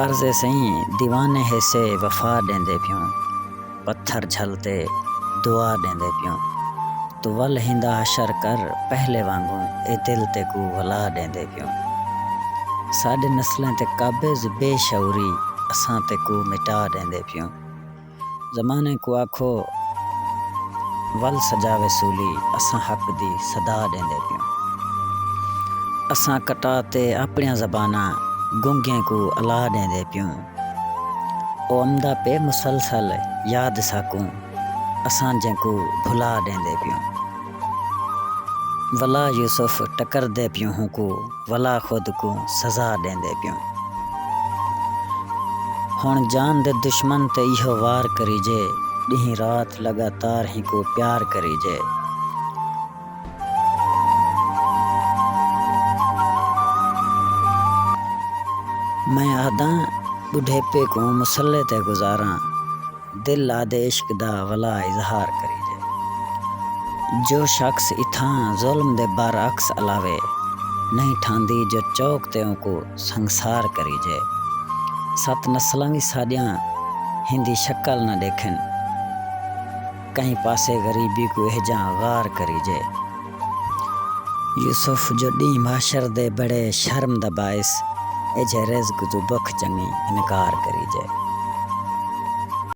عرض اے سئیں دیوانے ہیسے وفا ݙیندے پیوں پتھر جھل تے دعا ݙیندے پیوں توں ول ہیندا حشر کر پہلے وانگوں اے دل تیکوں ولا ݙیندے پیوں ساݙے نسلیں تے قابض بے شعوری اساں تیکوں مٹا ݙیندے پیوں۔ زمانے کوں آکھو ول سجاوے سولی اساں حق دی صدا ݙیندے پیوں اساں کٹا تے آپݨیاں زباناں گنگیں کوں الا ݙیندے پیوں او امدا پئے مسلسل یاد ساکوں اساں جینکوں بھلا ݙیندے پیوں۔ ولا یوسف ٹکردے پیوں ہونکو ولا خود کوں سزا ڈیندے پیوں ہن جان دے دشمن تے ایہو وار کریجے ڈینہہ رات لگاتار ہیکو پیار کریجے۔ میں آہداں بڈھیپے کوں مصلے تے گزاراں۔ دل آدھے عشق دا ولا اظہار کریجے۔ جو شخص اتھاں ظلم دے برعکس علاوے نہیں ٹھاندی جو چوک تے اونکوں سنگسار کریجے۔ ست نسلاں وی ساݙیاں ہیندی شکل نہ ݙیکھن۔ کہیں پاسے غریبی کوں اہجاں غار کریجے۔ یوسف جو ݙینہہ محشر دے بڑے شرم دا باعث ایجھے رزق توں بکھ چنگی انکار کریجے۔